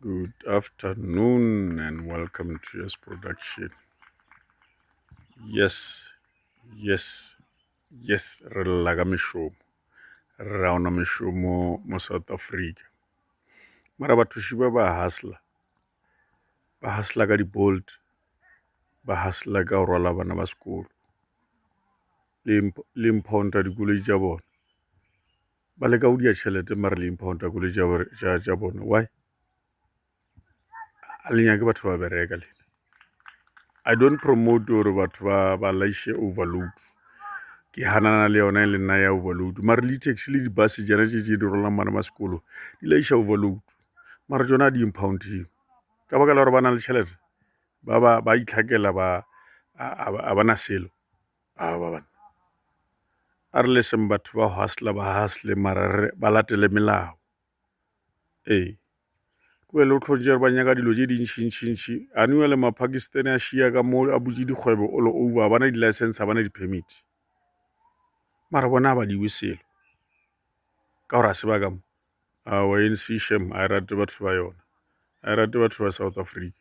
Good afternoon and welcome to Yes Production. Yes, yes, yes, re lla ka mešomo. Re ra ona mešomo mo South Africa. Mara bathuši ba ba hasla. Ba hasla ka di-bolt. Ba hasla ka go rwala bana ba sekolo. Le imp- le impounta dikoloi tša bona. ba leka go dia tšhelete mare le impounta koloi tša bone why a le nyake batho ba bereka le i don't promote gore batho ba ba laishe overload ke hanana le yona e le nna ya overload mare le taxi le di-bus jana tše tše di rolang bana ba sekolo di laisha overload mara tsona a di impounding ka baka la gore ba na le tšhelete ba ba ba itlhakela ba a ba na selo Aowa banna, a re leseng batho ba hustler ba hustle mara re ba latele melao. Ee, go be le go tlhontše gore ba nyaka dilo tše dintšintšintši, anyway le ma-Pakistan a šiya ka mo a butše dikgwebo all over, ga ba na di-licence, ga ba na di-permit. Mara bona ga ba lewe selo ka gore ga se ba ka mo. Aowa A_N_C shame ga e rate batho ba yona, ga e rate batho ba South Africa.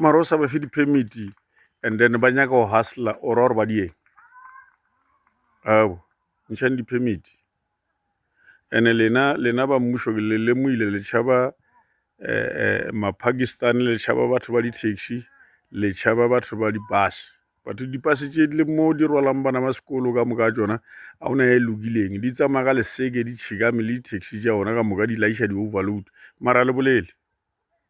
mara o sa ba fe di-permit and then ba nyaka go hustler ora gore ba dieng abo ntšhang di-permit ene lena lena ba mmušo ke le lemoile le tšhaba eh, eh, mapakistan le tšhaba batho ba di-taxi le tšhaba batho ba di-bus batho dipase tše le mo di rwalang bana ba sekolo ka moka tsona a ona e lokileng di tsamaya ka leseke di tšhikame le di-taxi tša ona ka moka di laiša di-overload mara le bolele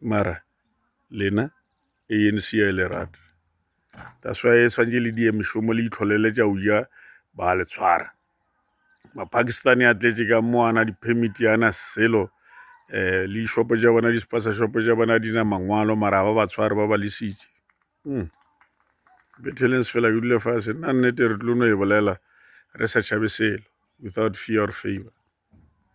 mara lena anc ya e le rate that's why e swantse le die mešomo le itlholele tša uja ba le tshwara mapakistani a tletše ka mo ana di-permit ana selo um le dishopo tša bona di-spasa shopo tša bona di na mangwalo mara ba ba tshware ba ba lesitše mm. betelens fela ke dule fase nna nnete re tlo no e bolela re sa tšhabe selo without fear or favor